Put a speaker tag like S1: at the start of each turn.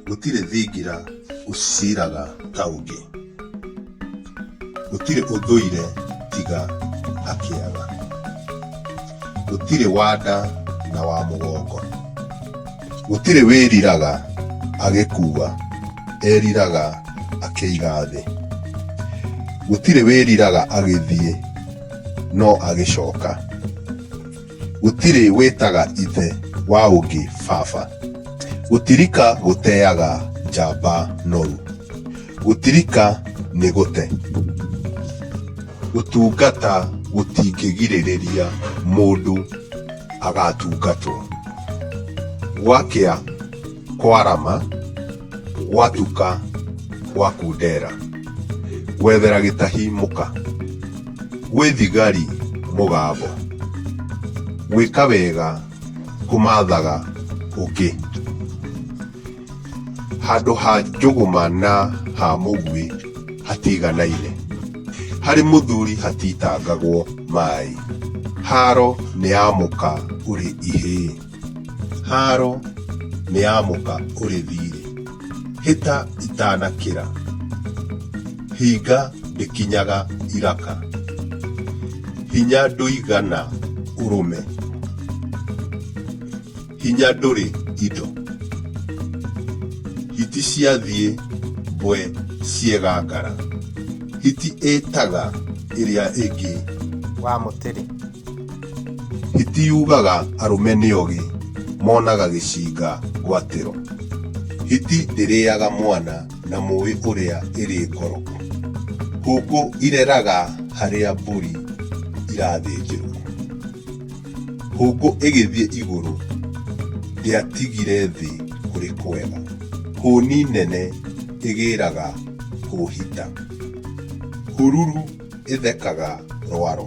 S1: Gũtirĩ thingira ũciraga ta ũngĩ, gũtirĩ ũthũire tiga akĩaga, gũtirĩ wa nda na wa mũgongo, gũtirĩ wĩriraga agĩkua, eriraga akĩiga thĩ, gũtirĩ wĩriraga agĩthiĩ no agĩcoka. gũtirĩ wĩtaga ithe wa ũngĩ baba gũtirika gũteaga njamba noru gũtirika nĩ gũte gũtungata gũtingĩgirĩrĩria mũndũ agatungatwo gwakĩa kwarama gwatuka gwa kundera gwethera gĩtahi mũka gwĩ thigari mũgambo gwĩka wega kũmathaga ũngĩ handũ ha njũgũma na ha mũguĩ hatiganaine harĩ mũthuri hatitangagwo maĩ haro nĩ ya mũka ũrĩ ihĩĩ Haaro nĩ ya mũka ũrĩ thiirĩ, hĩta itanakĩra, hinga ndĩkinyaga iraka, hinya ndũigana ũrũme, hinya ndũrĩ indo, hiti ciathiĩ mbwe ciegangara, hiti ĩĩtaga ĩrĩa ĩngĩ. wa mũtĩrĩ. Hitiugaga arũme nĩ ogĩ monaga gĩcinga ngwatĩro. Hiti ndĩrĩaga mwana na mũĩ ũrĩa ĩrĩ ngoro. Hũngũ ireraga harĩa mbũri irathĩnjĩrwo. Hũngũ ĩgĩthiĩ igũrũ ndĩatigire thĩ kũrĩ kwega. Hũni nene ĩgĩraga hũhita. Hururu ĩthekaga rwaro.